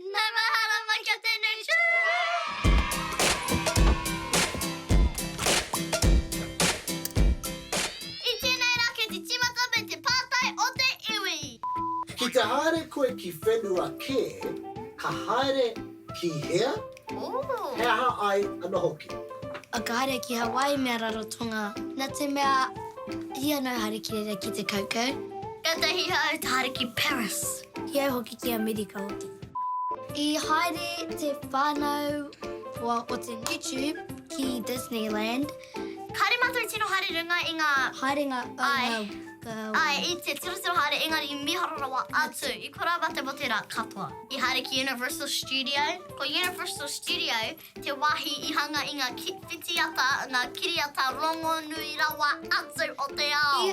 Nau mahalo mai kia tenei I tenei ra kei te timata me te patai o te iwi. Ki te haere koe ki whenua ke, ka haere ki hea? He aha ai ano hoki? A ka haere ki Hawaii me a Rarotonga, na te mea i ano haere ki reira ki te kaukau. Katahi hau ta haere ki Paris. Ki au hoki ki Amerika oti. I haere te whanau hoa o te YouTube ki Disneyland. Haere matou tino haere runga i nga. Haerenga o nga kawa. Ae, i te turuturu haere engari miharo rawa atu i kora mate mo te ra katoa. I haere ki Universal Studio. Ko Universal Studio te wahi i hanga i nga whitiata, nga kiriata rongonui rawa atu o te ao.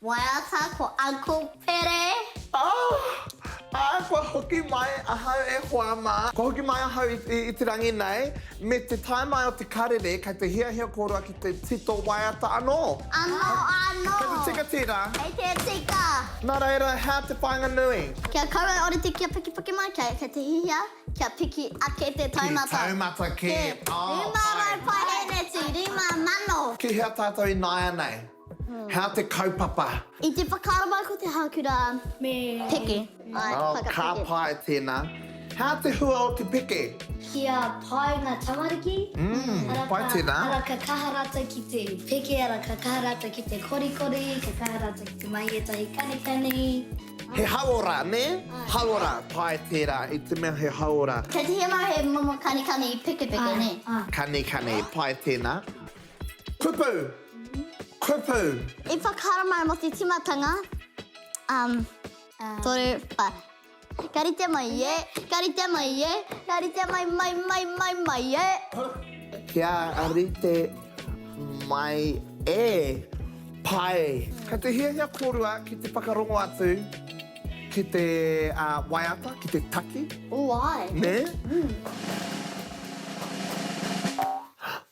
Waiata ko Uncle Pere. Aah! Ā, kua hoki mai ahau e hoa mā. Kua hoki mai ahau i, i, i te rangi nei. Me te tae mai o te karere, kei te hiahia kōrua ki te tito waiata anō. Anō, anō. Kei te tika tērā. Kei te tika. Nā reira, hea te whāinga nui? Ki a koutou ōrite kia pikipiki mai, kei, kei te hihia kia piki ake te taumata. Te taumata kē. Ā, pai. Rima rau paeheneti, rima mano. Ki hea tātou ināianei? Hea te kaupapa? I te whakaaro mai ko te hākura me peke. Oh, ka pai tēnā. Hea te hua o te peke? Kia pai ngā tamariki. Mmm, pai tēnā. Ara ka kaha rātou ki te peke, ara ka kaha rātou ki te korikori, ka kaha rātou ki te mahi ētahi kanikani. He hauora, nē? Hauora, pai tērā, i te mea he hauora. Kei te hema he momo kanikani pekepeke, nē? Kanikani, pai tēnā. Kupu, Kupu. I whakaharamai mo te timatanga, um, toru, pa. Ka rite mai e, ka rite mai e, ka rite mai mai mai mai mai e. Kia rite mai e, pai. Kei te hiahia korua ki te whakarongo atu ki te waiata, ki te taki. Ooh, ai. Ne?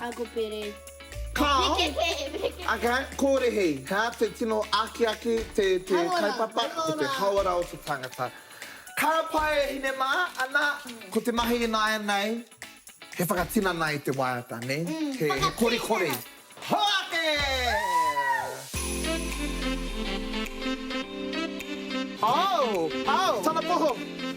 Agopere. Ka Ake, kōrehi. Hea, te tino akiaki, te kaupapa, ko te hauora o te tangata. Ka pai e hine mā, ana, ko te mahi ināianei, he whakatinana i te waiata, nē? He korikori. Hoake! Au! Au! Tana poho!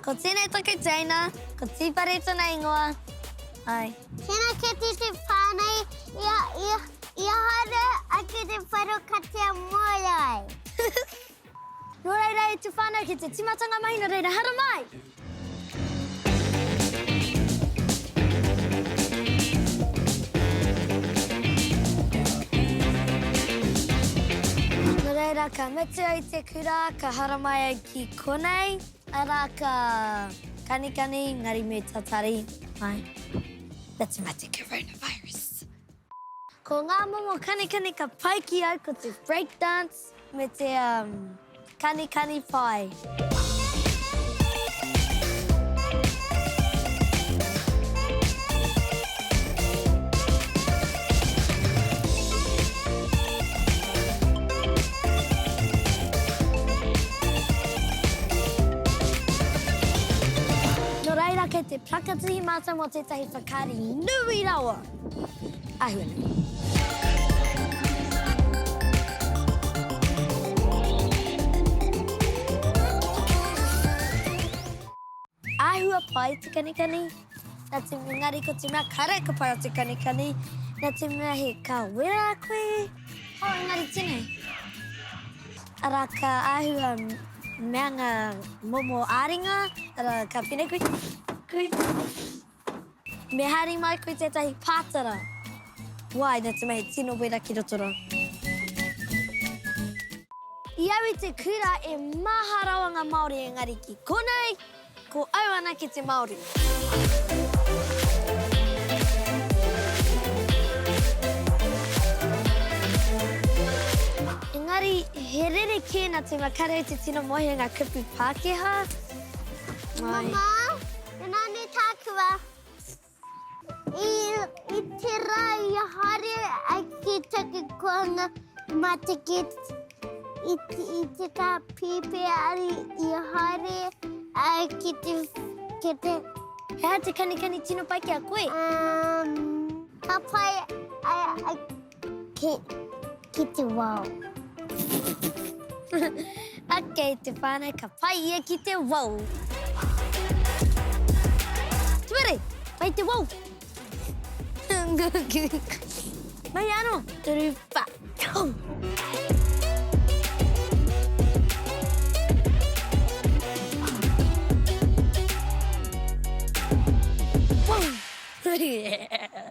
Ko tēnei taku teina, ko Tīpare tana ingoa, ai. Tēnā kēti te pā nei, ia, ia, ia haere ake te whero katea moe ai. Nō reira e te whānau ki te tīmatanga mahi nō reira hara mai! Nō reira ka mutu ai te kura, ka hara mai ai ki. Konei ara ka kanikani engari me tatari mai. That's about the coronavirus. Ko ngā momo kanikani ka pai ki au ko te break dance me te kanikani pae. Nō reira, kei te whakatuhi mātou mō tētahi whakaari nui rawa! Āhua nei. Āhua pae te kanikani. Nā te mea engari ko te mea kare ka pai o te kanikani, nā te mea he ka wera koe. Oh, engari tenei. Ara ka āhua mea ngā momo āringa, ara ka whine koe. Koe. Me hari mai koe tētahi pātara. Wai, nā te mea he tino wera ki roto ra. I au i te kura e maha rawa ngā Māori engari ki konei. Ko au anake te Māori. Engari, he rerekē nā te makarau te tino mohi o ngā kupu Pākehā. Māi. Mama, e nā nei tāku wā. I te rā i a haere ai ki taku koanga mā te kite i te tā pīpēari i a haere ai ki te kite. He aha te kanikani tino pai ki a koe? Ka pai ai. Ki, ki te wao. ok, te whānau, ka pai ia ki te wao. Tuere, pai te wao. Mai ano, turupa. yeah.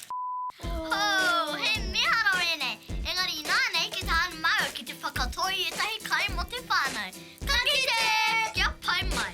Hou! He miharo ēnei! Engari inānei ki te hānamau ki te whakatō i ētahi kai mō te whānau. Ka kite! Kia pai mai!